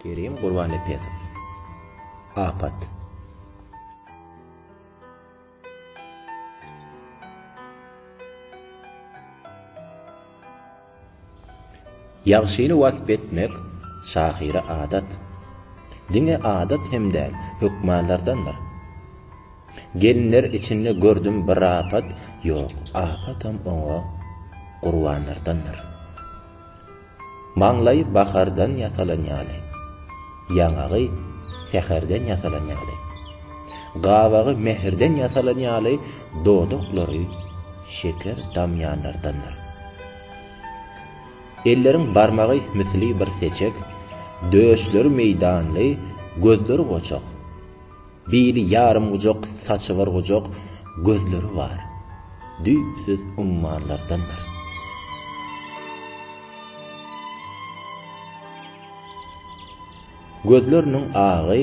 Kerim Gurbannepesow. Apat. Ýagşyny wasp etmek şahyra adat. Diňe adat hem däl, hökmanlardandyr. Gelinler içinde gördüm bir apat, ýok, apatam oňa gurbanlardandyr. Maňlaýy bahardan ýasalan ýaly, ýaňagy säherden ýasalan ýaly, gabagy mähirden ýasalan ýaly, dodaklary şeker damýanlardandyr. Elleriň barmagy misli bir seçek, döşleri meýdanly, gözleri goçak. Biri ýarym gujak, saçy bir gujak, gözleri bar. Düýpsüz ummanlardandyr. Gözleriniň agy,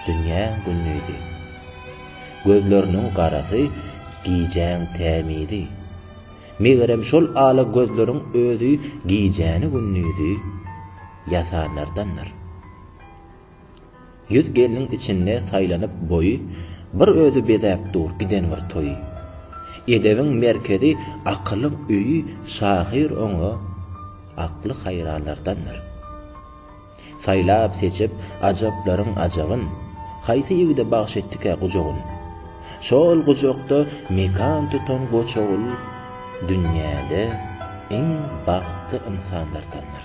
dünýäň gündizi. Gözleriniň garasy, gijäň tämizi. Megerem şol ala gözleriň özi gijäni-gündizi ýasanlardandyr. Ýüz gelniň içinde saýlanyp boýy, Bir özi bezäp dur giden bir toýy. Edebiň merkezi, akylyň öýi Şahyr oňa akly haýranlardandyr. Saýlap-seçip ajaplaryň ajabyn, Haýsy ýigide bagş etdikä gujagyn? Şol gujakda mekan tutan goçagul Dünýäde iň bagtly ynsanlardandyr.